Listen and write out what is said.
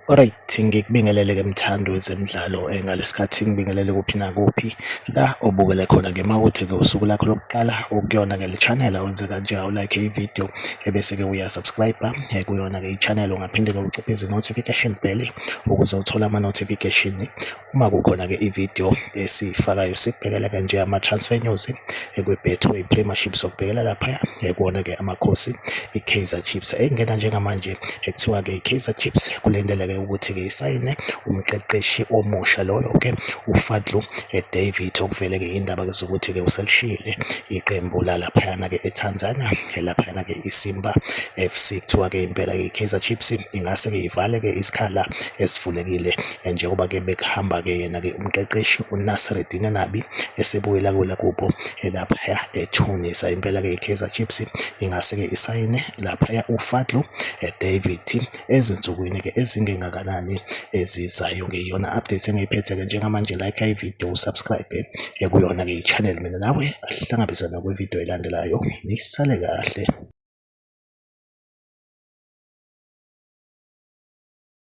Alright, ngikubingelele ke mthando wezemidlalo eh, ngalesikhathi ngibingelele kuphi nakuphi la obukele khona ke mawuthi ke usuku lakho lokuqala ukuyona ke le channel wenze kanje awu like i video ebese ke uya subscribe eh, kuyona-ke i-channel ungaphinde-ke uciphize i-notification bell ukuze uthole ama-notification uma kukhona-ke i-video esiyifakayo sikubhekela kanje ama-transfer news eh, kwi-betway premiership sokubhekela laphaya eh, kuwona-ke amakhosi i-kaizer chiefs engena njengamanje ekuthiwa-ke i-kaizer chiefs kulindeleke ukuthi-ke isayine umqeqeshi omusha loyo-ke ufadlu david okuvele-ke indaba-ke zokuthi-ke uselishiyile iqembu lalaphayana-ke etanzania laphayana-ke iSimba FC kuthiwa-ke impela-ke i-Kaizer Chiefs ingase-ke ivale-ke isikhala esivulekile eh, njengoba-ke bekuhamba-ke yena-ke umqeqeshi uNasreddin Nabi esebuyela kwela kubo eh, laphaya eTunis impela-ke i-Kaizer Chiefs ingase-ke isayine laphaya uFadlu eh, David ezinsukwini ke ezingengakanani ezizayo ke iyona update engiyiphethe ke njengamanje like i video subscribe ekuyona ke i-channel mina nawe asihlangabezana kwi video elandelayo nisale kahle